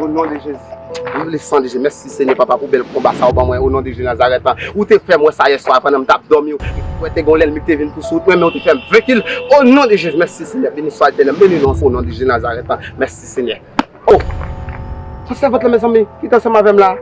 O non de Jezi. Viv le san de Jezi. Mèsi Senyè papa pou bèl konba sa ou ban mwen o non de Jezi Nazarèt lan. Ou te fèm wè sa yè swa pandan m tap dòmi ou wè te gen yon lènmi ki te vin pou sou wout mwen men ou te fèm venki l o non de Jezi. Mèsi Senyè beni swa Etènèl m beni non ou o non de Jezi Nazarèt lan. Mèsi Senyè. O! Sèvant lan mezanmi ki te ansanm avè m la.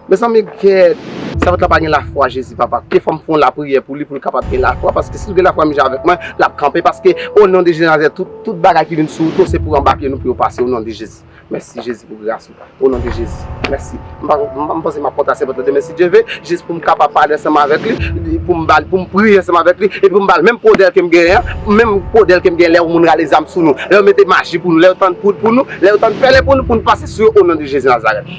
Mezanmi gèt Savant la pa gen lafwa Jezi papa ke fòm fon lapriyè pou li poul kapab gen lafwa paske sil gen lafwa menm jan avèk mwen lap kanpe paske o non de Jezi Nazareth tout tout bagay ki vin sou to se pou anba pye nou pou yo pase o non de Jezi mèsi Jezi pou gras ou o non de Jezi mèsi m panse map kontre a Sevant la demen si Dye ve jis poum kapab pale ansanm avèk li poum bal poum priye ansanm avèk li epi poum bal menm podèl kem genyen an menm podèl kem genyen lèw moun rale zam sou nou lèw mete maji pou nou lèw tann poud pou nou lèw tann pèlen pou nou poun pase sou yo o non de Jezi Nazareth.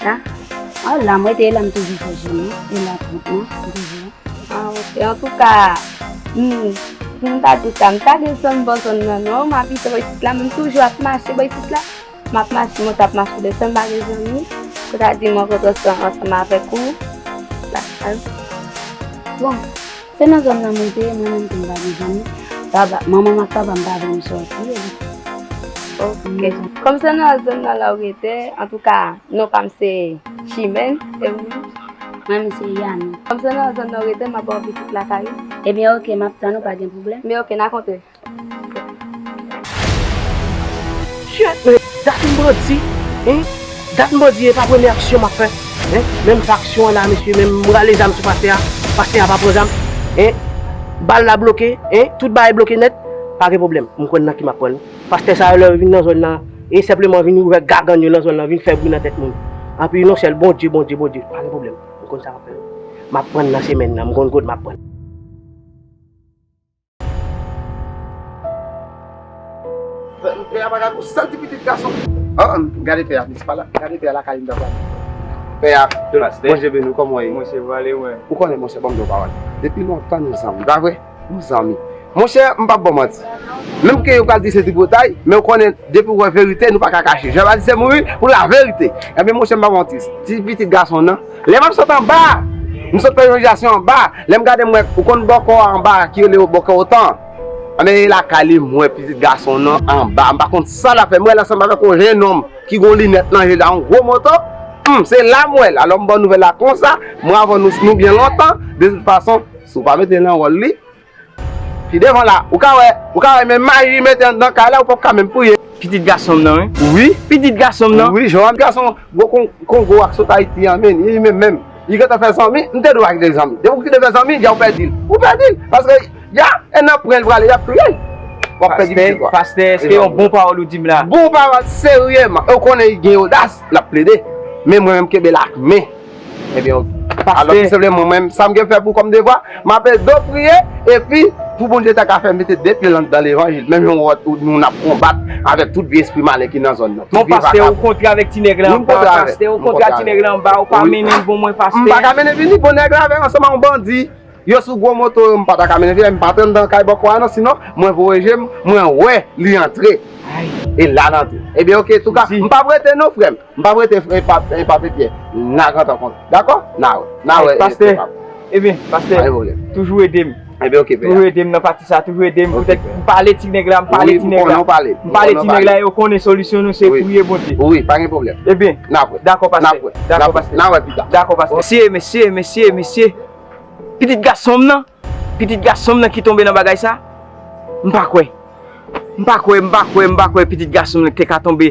Sa? Ah la mwen te la m toujou fè jèn nan, e la tout non, m toujou la. Ah ok, an tou ka, m, pou m ta di sa, m pa desann bò zòn nan non, m abite bò isit la men m toujou ap mache bò isit la, m ap mache monte ap mache desann, m pa gen zanmi, pou ta di m rankontre ansanm avèk ou, sa pa. Bon. Se nan zòn nan mwen te ye, mwen menm tou m pa gen zanmi. Manman m ak papa m pa vle m sòti. Ok. Kòm se nan zòn nan la ou rete, antouka non pa m se Chimène. E ou menm? Mwen menm se Yane. Kòm se nan zòn nan ou rete, m ap ba w pitit lakay ou. Ebyen ok, m ap tann ou, pa gen pwoblèm. Men ok, n a kontre. Kyèt men, dat m bandi hein, dat m bandi e pa premye aksyon map fè hein, menm sa aksyon an la mesye menm m rale zam sou pastè a, pastè a pa pran zam hein, bal la bloke hein, tout bagay bloke nèt, pa gen pwoblèm m konn nan ki map pran, pastè sa yo lè yo vin nan zòn nan e senpleman vin ouvè gagann yo nan zòn nan vin fè bri nan tèt moun, anpi non sèl Bondye, Bondye, Bondye, pa gen pwoblèm m konn sa map fè, map pran nan semèn nan m konn kot map pran. Pè a pa ka kou santi pitit gason li. Gade pè a vin se pa la gade pè a lakay li nan pale. Pè a, Bondye beni w kòman w ye? Mwen se vwa Lewen. Ou konnen monchè banm di yon pawòl. Depi lontan nou zanmi pa vre? Nou zanmi. Monchè m pap ba w manti. Menm ke yo pral di se tripotay men ou konnen depi ou wè verite nou pa ka kache. Jan yo pa di se mouri pou laverite. Ebyen monchè m pap ba w manti. Ti pitit gason w nan. Lè map sot anba, m sot fè yon ijyasyon anba, lè m gade m wè, ou konn bòkò a anba a ki rele yo bòkò otan an? Anben e lakay li m wè pitit gason nan anba, m pa konn sa lap fè, m wè l ansanm avèk yon jenòm ki gen yon linèt nan je li a yon gwo moto, humm se la m wè l, alò m ba w nouvèl la konsa, m ravò nou byen lontan, de tout fason, si w pa mete l nan wòl li, Pi devan la ou ka wè. Ou ka wè men mayi mete anndan kay la ou pap ka menm priye. Pitit gasonm nan wi. Wi. Pitit gasonm nan. Wi Johanne gason gwo kongo a ki sot ayiti an menn li menm menm li gentan fè zanmi m te di w pa kite zanmi depi w kite fè zanmi ya w pèdi l ou pèdi l paske ya e nan pren l prale yap touye l wap pèdi pitit ou a. Pastè eske se yon bon pawòl ou di m la. Bon pawòl serye man e w konnen li gen odas lap plede men mwen menm m kenbe l ak men. Ebyen ok. Pastè. Alò tou senpleman mwen menm sa m gen fè pou kòm devwa, m ape do priye epi pou Bondye ta ka fè m mete 2 pye lan dan levanjil menm jan nou nap konbat avèk tout vye espri malen ki nan zòn nan. Bon pastè ou kontre avèk ti nèg la anba a pastè, ou kontre ak ti nèg la anba a ou pa mennen l pou mwen pastè. M pa ka mennen vini bon nèg la avèk ansanm ak yon bandi yo sou gwo moto yo m pa ta ka mennen vini m pa t anndan kay bòkò a non sinon mwen voye je m mwen wè li antre e la l antre. Ebyen ok touka m pap rete non frè m. M pap rete fre e pape pyè. Na gentan konn. Dako? Na we. Na we. Paste. Ebyen. Paste. Pale volè. Toujou ede m. Ebyen ok. Toujou ede m nan pati sa. Toujou ede m. Ok. Poutèt m pale ti nèg la. M pale ti nèg la. Wi m konnen w pale. M pale ti nèg la e yo konnen solisyon nou se priye Bondye. Wi. Pa gen pwoblèm. Ebyen. Na we. Dako paste. Na we. Dako paste. Na we pita. Dako paste. Mesye, mesye, mesye, mesye. Pitit gason m nan. Pitit gason m nan ki tonbe nan bagay sa. M pa kwe. M pa kwe. M pa kwe. M pa kwe pitit gason m nan te ka tonbe.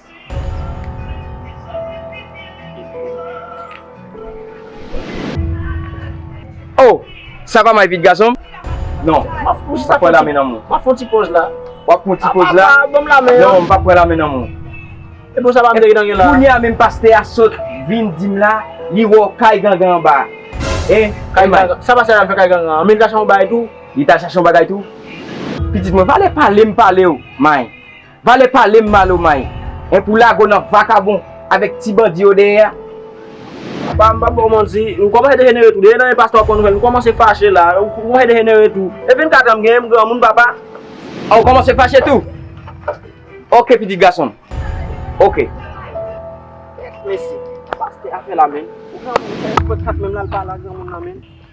Oh! Sa pa mal pit gason m? Non. M pa pran lamen nan men w. M ap fon ti poz la. W ap pran ti poz la? Apa, ban m lamen an. Non, m pa pran lamen nan men w. E bon sa pa Mteke nan gen la? Kounya menm pastè a sot vin di m la li wè w kay gangan anba a. Hein? Kay gangan? Sa pastè a al fè kay gangan an? Men li t al chache yon bagay tou? Li t al chache yon bagay tou? Pitit mwen, valè pale m pale w, May. Vale palem malo may en pou lago nan vakabon avek ti bandi yo deye a. Apa m pap baw manti m komanse dejenere tou deye nan men pastè wap konn nouvèl m komanse fache la ou komanse dejenere tou e 24 an m genyen m granmoun papa. Ah ou komanse fache tou ok pitit gason m ok. Mesi pastè afè la menn ou granmoun ou fè 24 menm lal pale a granmoun nan menn.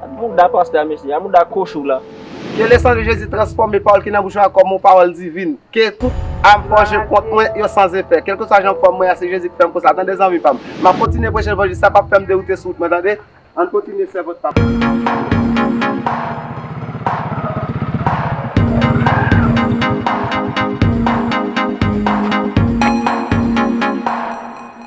Gad mouda pastè a mesye, a mouda kochou la. Ke le san de Jezi transfòme pawòl ki nan bouch mwen a kòm yon pawòl divin. Ke tout àm fòje kont mwen yo san zefè. Kelkeswa jan fòm mwen a se Jezi ki fèm konsa tande zanmi pam. Map kontinye preche levanjil sa pap fèm deroute sou wout mwen tande. Ann kontinye sèvant papa.